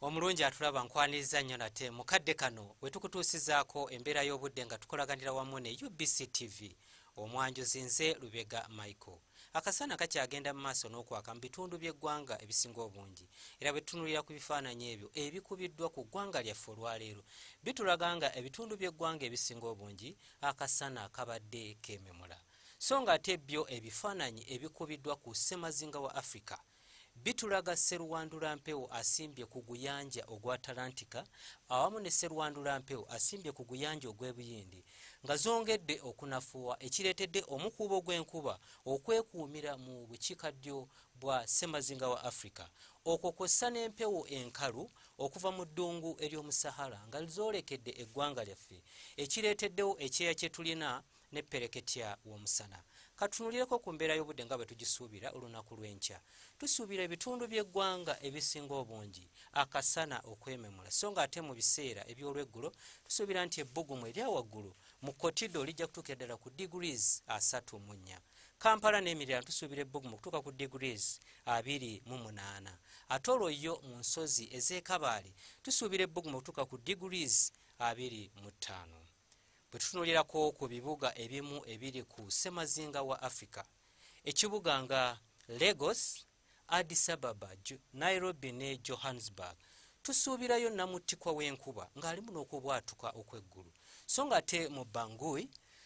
omulungi atulaba nkwaniriza nnyo nate mu kadde kano we tukutuusizaako embeera y'obudde nga tukolaganira wamu ne ubc tv omwanjuzi nze lubega michael akasana kakyagenda mu maaso n'okwaka mu bitundu by'eggwanga ebisinga obungi era bwe tutunulira ku bifaananyi ebyo ebikubiddwa ku ggwanga lyaffe olwaleero bitulaga nga ebitundu by'eggwanga ebisinga obungi akasana kabadde kememula so nga ate byo ebifaananyi ebikubiddwa ku ssemazinga wa africa Bitulaga Sserwandula Mpewo asimbye ku guyanja ogwa Atalantika awamu ne Sserwandula Mpewo asimbye ku guyanja ogw'e Buyindi nga zongedde okunafuwa ekireetedde omukuubo gw'enkuba okwekuumira mu bukiikaddyo bwa ssemazinga wa Afrika okwo kw'ossa n'empewo enkalu okuva mu ddungu ery'omu Sahara nga zoolekedde eggwanga lyaffe ekireeteddewo ekyeya kye tulina ne ppereketya w'omusana. Ka tutunuulireko ku mbeera y'obudde nga bwe tugisuubira olunaku lw'enkya. Tusuubira ebitundu by'eggwanga ebisinga obungi akasana okwememula so ng'ate mu biseera eby'olweggulo tusuubira nti ebbugumu erya waggulu mu kotido lijja kutuukira ddala ku degrees asatu mu nnya. Kampala n'emiriraano tusuubira ebbugumu okutuuka ku degrees abiri mu munaana. Ate olwo yo mu nsozi ez'e Kabaale tusuubira ebbugumu okutuuka ku degrees abiri mu ttaano. bwe tutunulirako ku bibuga ebimu ebiri ku ssemazinga wa africa ekibuga nga lagos addis ababa nairobi ne johannesburg tusuubirayo namuttikwa w'enkuba ng'alimu n'okubwatuka okw'eggulu so nga ate mu bangui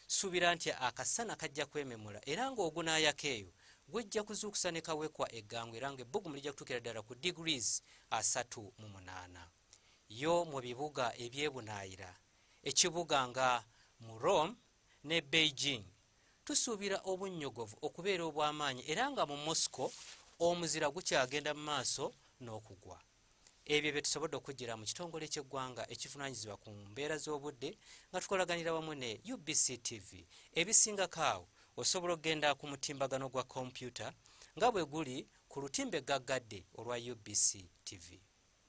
suubira nti akasana kajja kwememula era ng'ogunaayaka eyo gwejja kuzuukusa ne kawekwa eggangu era ng'ebbugumu lijja kutuukira ddala ku degrees asatu mu munaana yo mu bibuga ebyebunaayira ekibuga nga mu Rome ne Beijing. Tusuubira obunnyogovu okubeera obw'amaanyi era nga mu Moscow omuzira gukyagenda mu maaso n'okugwa. Ebyo bye tusobodde okujjira mu kitongole ky'eggwanga ekivunaanyizibwa ku mbeera z'obudde nga tukolaganira wamu ne UBC TV. Ebisingako awo osobola okugenda ku mutimbagano gwa kompyuta nga bwe guli ku lutimbe gaggadde olwa UBC TV.